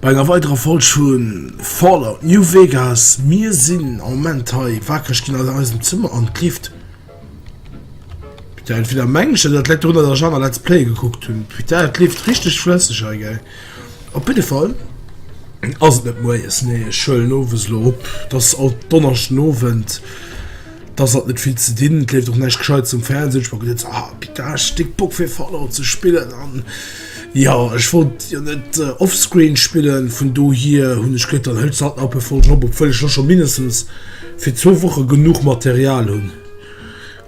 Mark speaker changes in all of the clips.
Speaker 1: Bei enger weiderer Folg vu Fallout New Vegas. Mir sinn am Moment hei wakereg ginn an eisem Zëmmer an d'Lift. Putain, entweder mengen ech dat, dat läit dorunner, dass ech aner Let's Playe gekuckt hunn. Putain, et leeft richteg flësseg hei, gell. Op jidde Fall ass et net moies, nee, ech huelen owes elo op, et ass alt Donneschdenowend. Dass hat net vill ze dinn, et leeft och näischt Gescheites um Fernseh, ech packen net ah Pita ech stéck Bock fir Fallout ze spillen an jo ech wollt jo net offscreen spillen vun dohier hunn ech gëtt dann hëls halt nach e voll Job obwuel ech lo scho mindestens fir zwou Woche genuch Material hunn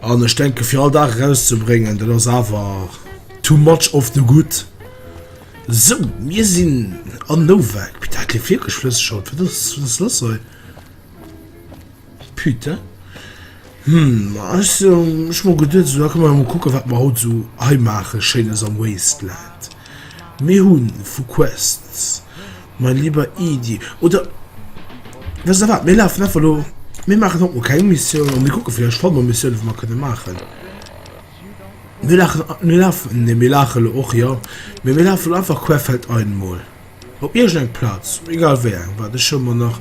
Speaker 1: an ech denke fir all Dag erauszebréngen dat ass awer too much of the good. Sou mir sinn an Novak, Pita et leeft wierklech flësseg haut, wat ass wat ass lass hei? Putain. Hm, also ech mol geduet sou da komme mer mol kucke wat mer haut sou hei maache schéines am Wasteland. Mir hunn vu Quests, mein lieber Edy, oder wësst der wat, mir lafen einfach elo, mir maachen haut mol keng Missioun an mir kucke villäicht fanne mer Missioune wou mer kënne maachen. Mir lachen, mir lafen, nee mir laache elo och, jo, mee mir lafe elo einfach querfeldein mol. Op iergend eng Plaz, egal wéi eng, waart, ech hu mer nach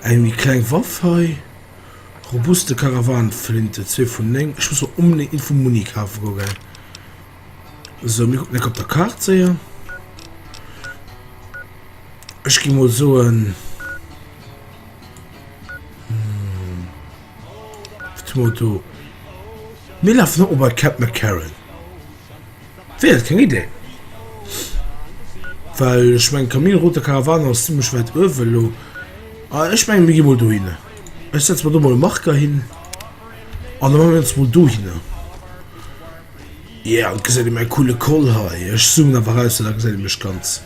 Speaker 1: eng méi kleng Waff hei, robuste Karawanenflinte, zwee vun néng, ech muss mer onbedéngt Info Muni kafe go gell. Sou, mir kucken eck op der Kaart séier. Ech gi mol soen, Motto. Mir lafen och op bei Cap McCarran. Wéi dat keng Idee, well ech meng Camino Route Caravane ass zimmlech wäit uewe elo. Ah ech menge mir gi mol dohinne. Ech setze mer do mol e Marker hin an da maa mir ons mol dohinne. Yeah, an gesäit ee mäi coole Col hei. Ech zoomen awer eraus, well da gesäit ee mech ganz.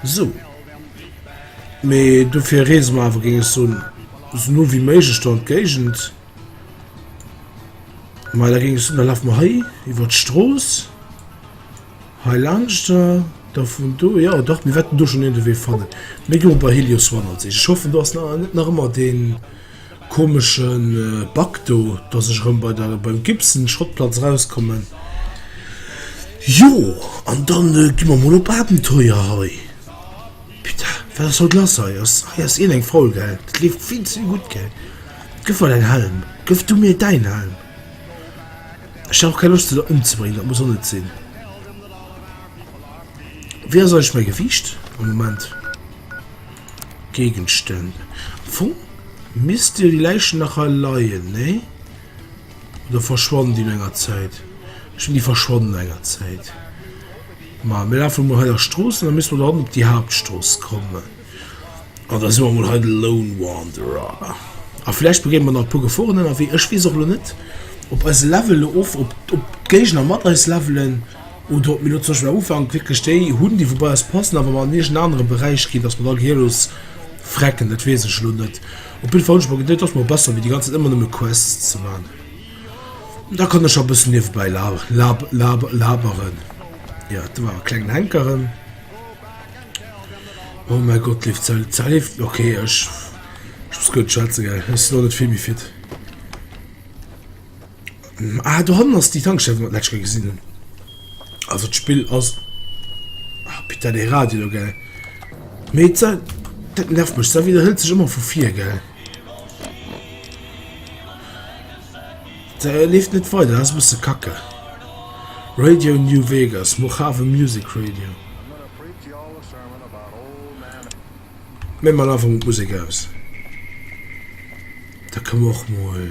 Speaker 1: Sou. Mee dofir reese mer awer, géing ech soen, esou no wéi méiglech do an d'Géigend. Mei da gings da laf mer hei iwwer d'Strooss. Hei lanschter da vun do ja dach mir wetten du schon en de Wee fannen. Mé go bei Helios One an sech. Ich hoffe du hast na net nach ëmmer den komischen äh, Bug do, dass ech rëm bei der beim Gibson Schrottplatz rauskommen. Jo an dann äh, gi mer mol op Abenteuer hei. Putain, wat ass haut lass hei? Ass hei ass iergendeng faul gell? Dat leeft vill ze gutt gell? Gëff mer däin Helm! Gëff du mir däin Helm! Ech hat och keng Loscht se der ëmzebréngen, dat muss och net sinn. Wéi ass eigentlech mäi Gewiicht am Moment? Géigenstänn. Am Fong misst jo déi Läichen nach hei leien, nee? Oder verschwannen déi no enger Zäit? Ech mengen déi verschwannen no enger Zäit. Ma mir lafe mol hei der Strooss an da misste mer do hannen op déi Haaptstrooss kommen. An da si mer mol hei de Lone Wanderer. A vläicht begéine mer nach e puer Geforen ënnerwee. Ech weess och elo net, ob eis Level elo of, ob, ob d'Géigner mat eis levelen oder ob mir elo zum Beispill am Ufank wierklech déi hunn, déi wou bei eis passen a wa mer an iergend en anere Beräich ginn, dass mer da gehiellos frecken. Dat weess ech elo net. Op jidde Fall hunn ech mer geduet, et ass mol besser wéi déi ganz Zäit ëmmer nëmme Quests ze man. Da kann ech a bëssen niewebäi la lab lab laberen. Ja, du war e klengen Hänkeren. Oh mein Gott, lief ze ze lief. Okay, ech ech muss gëtt schwätze gell. Ech si lo net vill méi fit. Ah, do hannen ass déi Tankstell, wou mer d'lescht Kéier gesinn hunn. Also d'Spill ass... Ah, putain, dee Radio do, gell. Mee et sa... Dat nervt mech, sa widderhëlt sech ëmmer vu vir, gell. Dat leeft net weider, dat ass e bësse kacke. Radio New Vegas, Mojave Music Radio. Mee mer lafen mol d'Musek aus. Da ka mer och mol...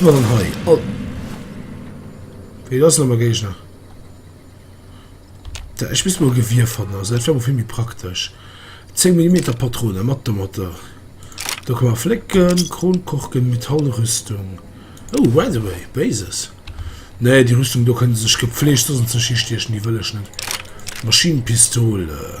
Speaker 1: Dann hei. Oh. Wie das nochmal gehe ich nach. Da, ich muss mal Gewirr von, also das wäre viel mehr praktisch. 10 mm Patrone, matt der Mutter. Da kann man flicken, Kronkorken, Metallrüstung. Oh, by the way, Bases. Nee, die Rüstung da können sie sich gepflegt, sonst sich hier stechen, die will ich nicht. Maschinenpistole.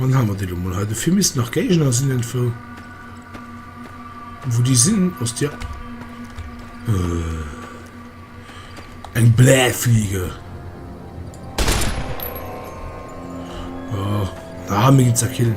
Speaker 1: Dann haben wir die mal heute. Dafür müssen nach Gegner sind irgendwo. Wo die sind, aus der. Äh, ein Blähfliege. Oh, da haben wir ihn zerkillen.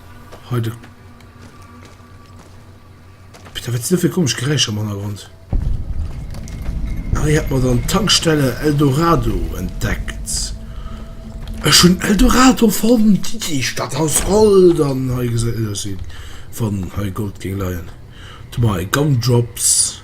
Speaker 1: Hei de Peter, wat sinn dat fir komesch Geräischer am Hannergrond? Hei hat mer dann d'Tankstelle Eldorado entdeckt. Ech hunn Eldorado fonnt, déi Stadt aus Gold an hei gesäit et aus wéi wann hei Gold géing leien. Du mer hei Gumdrops.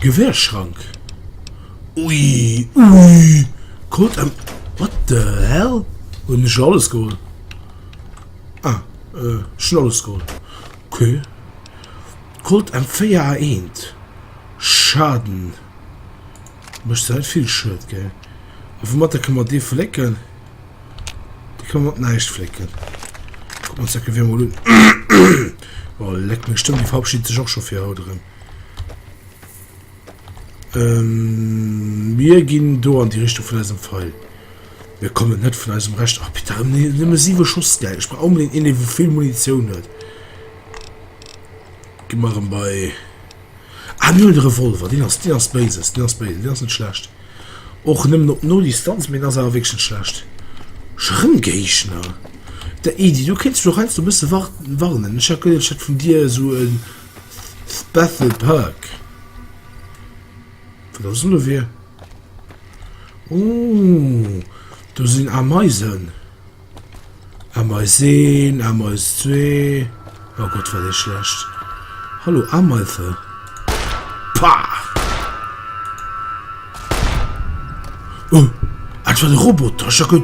Speaker 1: Gewäerschrank Ui ui Krut an What the hell Hunn ech alles geholl Ah ech hunn alles geholl Ok Krut an 4 a eent Schaden Mécht se net vill Schued ge A woumatter kënne mer dee flécken Dee kënne mer mat näischt flécken Kucken mer ons dat Gewier emol un Oh leck meng Stëmm déi verabschiedet sech och scho fir haut erëm. Ähm, mir ginn do an déi Richtung vun eisem Pfeil. Mir kommen net vun eisem Recht. Ach, bitte, ach, nee, nëmme siwe Schoss, geil. Ich brauch unbedingt een, der wo vill Munition huet. Geh mal rum bei... Ah, mir hunn den Revolver. Den ass, den ass Bases, den ass Bases, den ass net schlecht. Och nëmmen op no Distanz, mee den ass awer wirklich net schlecht. Schrëmgéigner? Der Edy, du kéints jo heiansdo e bësse warten, warnen. Ich hat gehört, ich hätt vun dir esou en... Bethel Park. Wat ass lo fir? Oh, do sinn Ameisen. Ameis 1, Ameis 2. Oh Gott, war dee schlecht. Hallo, Ameise. Pah! Oh, ah, dat war de Roboter. Ech hat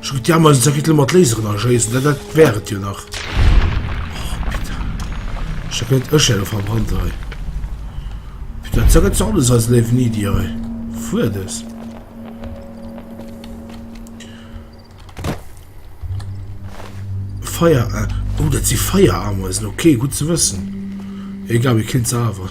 Speaker 1: Schon die haben uns Ritel mat Laseren erschießen, das, das wäre es ja nach. Oh, bitte. Ich habe jetzt Öschelle verbrannt, ey. Bitte, das ist alles als Leben nie, die, ey. Fuhr das. Feier, äh. Oh, das sind Feierameisen, okay, gut zu wissen. Egal, wir kennen es aber.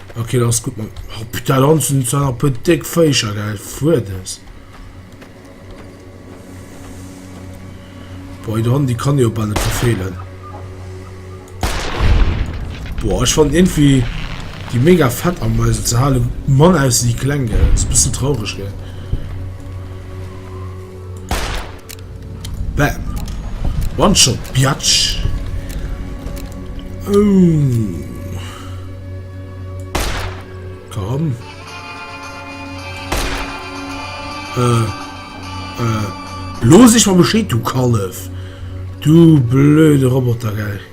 Speaker 1: Okay, dat ass gutt, Mann. Oh, putain, da hunn se zwar nach e puer déck Féischer, gell? Fuerdes. Boah, der Hond, die kann jo bald nicht verfehlen. Boah, ich fand irgendwie die mega fett am Mäusel zu halen. Mann aus die Klänge. Das ist ein bisschen traurig, gell? Bam! One shot, biatch! Ooh! Komm! Äh. Äh. Looss iech mol Bescheed, du Kallef! Du blöde Roboter, gell!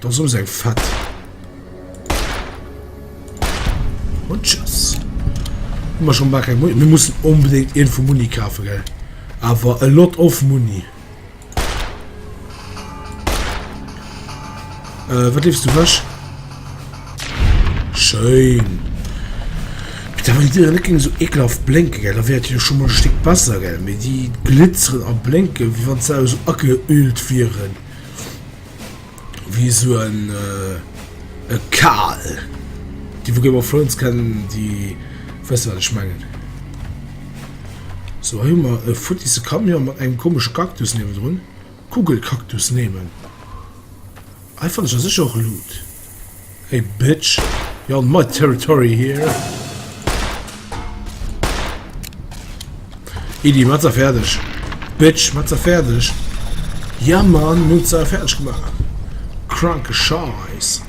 Speaker 1: Da soss eng fett. Und tschüss. Immer schon mal kein Muni. Wir müssen unbedingt irgendwo Muni kaufen, gell? Aber a lot of Muni. Äh, was liebst du was? Schön. Da war die nicht gegen so ekelhaft blinken, gell? Da wäre die schon mal ein Stück besser, gell? Mit die glitzern und blinken, wie wenn sie so abgeölt wären. Wéi esou en e Kal. Déi vu Game of Thrones kennen, déi wësse wat ech mengen. So hei hu mer e futtisse Camion mat engem komesche Cactus niewendrun. Kugelcactus nehmen. Hei fanne ech a sech och Loot. Hey bitch, you're on my territory here. Idi, mat's er fertig. Bitch, mat's er fertig. Ja man, mir hun's er fertig gemacht. Kranke Scheiß.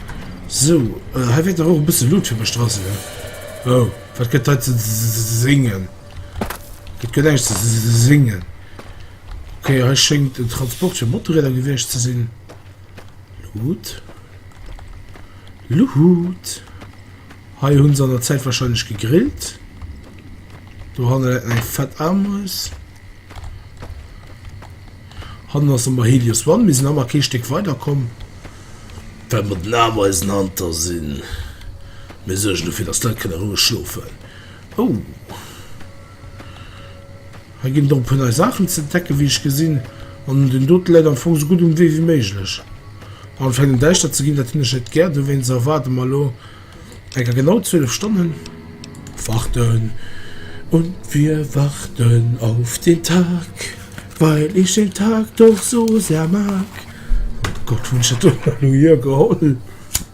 Speaker 1: So, äh, hei wird doch auch ein bisschen Loot für mich dran sein. Oh, was geht heute zu singen? Das geht eigentlich zu singen. Okay, hei schenkt den Transport für Motorräder gewiescht ze sinn. Luhut. Luhut. Hei hunn se an der Zäit wahrscheinlech gegrillt. Do hanne läit eng fett Armhuis. Hannen ass ëmmer Helios One. Mir sinn ëmmer kee Stéck weiderkomm, well mer den Ameisen hanter sinn. Mir suergen dofir, dass d'Leit kënne roueg schlofen. Oh! Hei ginn drop vun nei Saachen ze entdecken, wéi ech gesinn, an den dote läit am Fong sou gutt um Wee wéi méiglech. Anfänken däischter ze ginn, dat hunn ech net gär, dowéinst erwaarde mer elo enker genau 12 Stonnen. Warten und wir warten auf den Tag, weil ich den Tag doch so sehr mag. Gott, wou hunn ech dat elo hier geholl?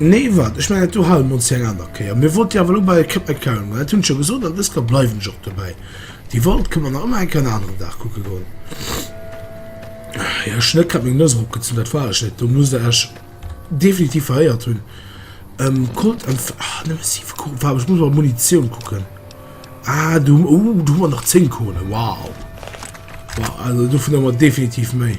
Speaker 1: Nee, wat? Ech mengen, do hale mer ons fir eng aner Kéier. Mir wollte jo awer elo bei Keb McLaren goen. Dat hunn ech jo gesot an dësger bleiwen ech och dobäi. Déi World kënnen mer nach ëmmer eng Kéier en aneren Dag kucke goen. Jo, ech hunn net grad meng Nose eropgezunn, dat war ech net. Do musst Der Iech definitiv veréiert hunn. Ähm, Colt Enf-, ah, nëmme siwe Kugeln, waarde, ech muss mol Munitioun kucken. Ah, do hu, oh, do hu mer nach zéng Kugeln, wow. Wow, also dovun hu mer definitiv méi.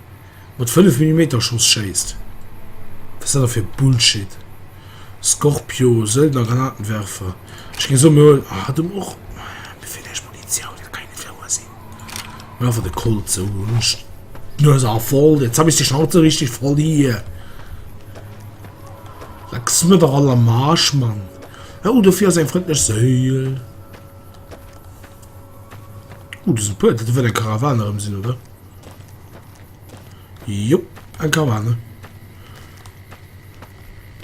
Speaker 1: mat 5 Millimeter Schoss schéisst, wat ass dat da fir Bullshit? Scorpio, Söldner, Granatenwerfer, ech géing soen, mir huelen ah du och mir feelt eis Munitioun, dat kann jo net wouer sinn, mir einfach de Colt sou un d'Nues a voll, jetzt hab ich die Schnauze richtig voll hier, lecks mir der all am Arsch Mann, oh dofir ass eng frëndlech Séil. Oh do sinn e puer, dat wëll eng Karawan erëm sinn oder? Jupp, eng Karawane.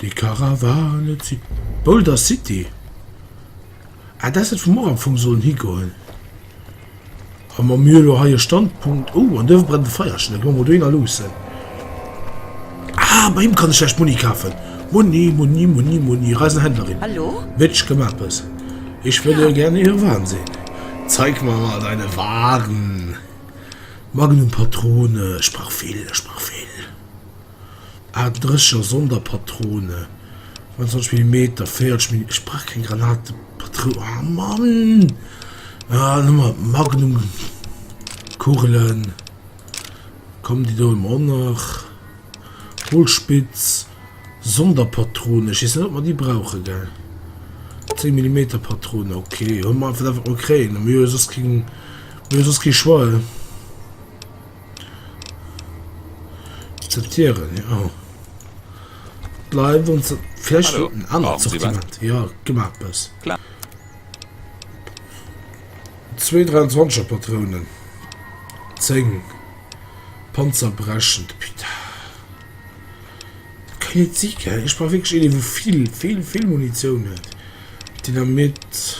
Speaker 1: Déi Karawane zitt. Boulder City. Ah, dat ass dat, wou mer och am Fong sollen higoen. A mer mir elo hei e Standpunkt. Oh, an do brennt e Feierchen. Da gi mer mol dohinner luussen. Ah, bei him kann ech vläicht Muni kafen. Muni, Muni, Muni, Muni. Reisenhändlerin. Hallo? Bitch, kënn mer eppes? Ich würde gerne Ihre Waren sehen. Zeig mir mal deine Waren. Magnum Patrone, ech brauch vill, ech brauch vill. Aachtendresseger Sonderpatrone, 29 Millimeter, 40 Millimeter, ech brauch keng Granatepatrounen, ah Mann! Ah, nimm mal Magnum Kugelen, komm déi do hun mer och nach. Kohlspitz Sonderpatrone, ech weess net ob mer déi brauchen, gell? 10 Millimeter Patrone, ok, hun mer einfach dat wat mer kréien, mir hu jo soss keng. Hun jo soss kee Choix, he? Akzeptieren, jo. Bleiwen ze vläch Hallo. en anert Brauchen Sie was? Sortiment. Ja, gi mer eppes. Klar. Zwee 23er Patrounen. Zéng. Panzerbrechend. Putain. Kann net si, gell? Ech brauch wierklech een, dee wou vill, vill, vill Munitioun huet. Dynamit.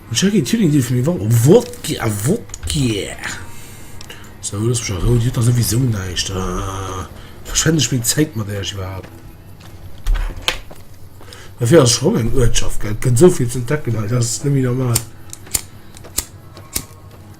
Speaker 1: Jackie Zwilling deet vun mir wor Wodka Wodka So looss mech a Rou, Dir hutt dach souwisou näischt Aah verschwend ech meng Zäit mat Äech iwwerhaapt? Dat hei ass schonn eng Uertschaft, gell? Et gëtt esou vill z'entdecken hei, dat ass net méi normal.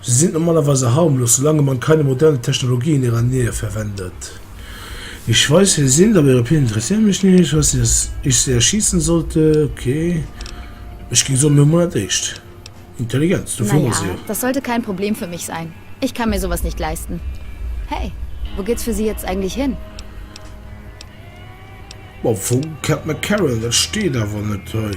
Speaker 1: Se sinn normalerweise harmlos, solange man keine modernen Technologien in ihrer Nähe verwendet. Ich weiß, wer Sie sind, aber Ihre Pläne interessieren mich nicht. Ich weiß nicht, dass ich Sie erschießen sollte. Okay. Ech géing soen, mir hu mol dat éischt. Intelligenz, dofir hu mer se jo. Na ja, das sollte kein Problem für mich sein. Ich kann mir sowas nicht leisten. Hey, wo geht's für Sie jetzt eigentlich hin? Bon, wou kennt mer Karen? Dat steet awer net hei.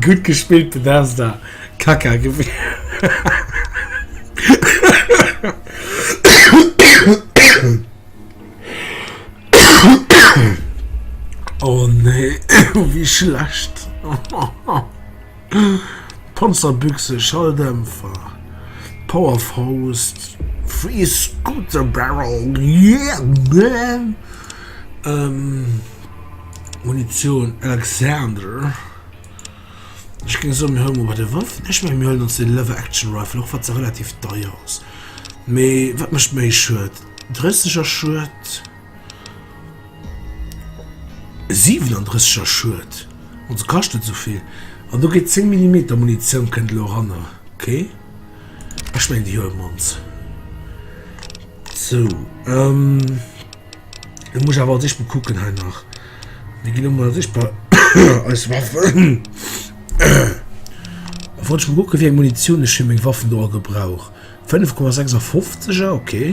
Speaker 1: Gudd gespillt Bethesda, Kaka gewinnt. Panzerbüchse, Schalldämpfer, Powerfaust, Free Scooter Barrel, yeah man! Munitioun, Alexander, ech géing soen mir huele mol bei de Wëffen, ech mengen mir huelen ons dee Lever Action Rifle, och wann se relativ deier ass, mee wat mécht méi Schued? 30 a Schued? 37 er Schued, an se kaschten esou vill, an do geet 10 Millimeter Munitioun kënnt elo eranner, ok, ech mengen déi huelen ons sou. Elo muss ech awer als eischt mol kucken hei nach, mir ginn elo mol als eischt bei eis Waffen, da wollt ech mol kucke wéi eng Munitioun ech fir meng Waffen do all gebrauch, 5,56 er, ok.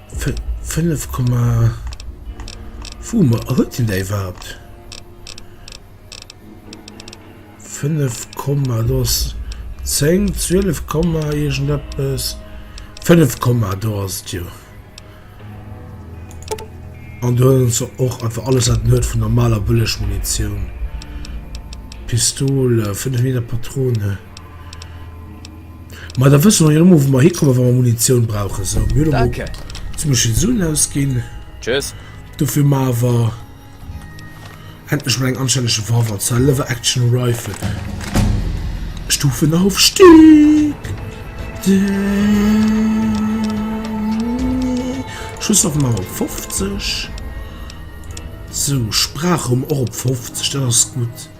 Speaker 1: 5 Komma wou mer a huet den däi iwwerhaapt 5 Komma do ass 10 12 Komma iergend eppes 5 Komma do ass et jo an do huet en se och einfach alles wat en huet vun normaler Bëllegmunitioun, Pistol, 5 Meter Patrone. Mä da wësse mer jo ëmmer, wou mer hikommen, wa mer Munitioun brauchen. Sou, mir hunn elo mol zum Beispill Suen ausginn. Dofir maache mer endlech mol eng anstänneg Revolver, zwar e Lever-Action Rifle. Stufenaufstieg! Schusswaffen maache mer op 50. Sou, Sprachraum och op 50, dat ass gutt.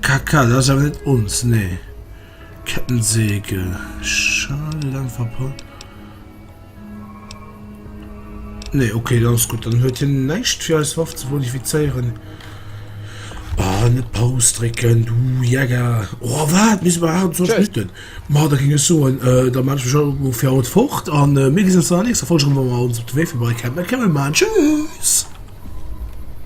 Speaker 1: Kaka, das awer net ons, nee. Kettensäge, schade, lang verpackt. Nee, okay, dann ist gut. Dann huet hin näischt fir eis Waff ze modifizéieren. Ah, net Paus drecken, du Jäger. Oh, wat, mis ma hart sonst nicht denn. Ma, da ging es so, an, äh, da mach ich auch für haut fort, an, äh, mir gesehen uns dann nächste Folge, wenn wir uns auf den Weg vorbei kämpfen. Kämpfen wir mal, tschüss!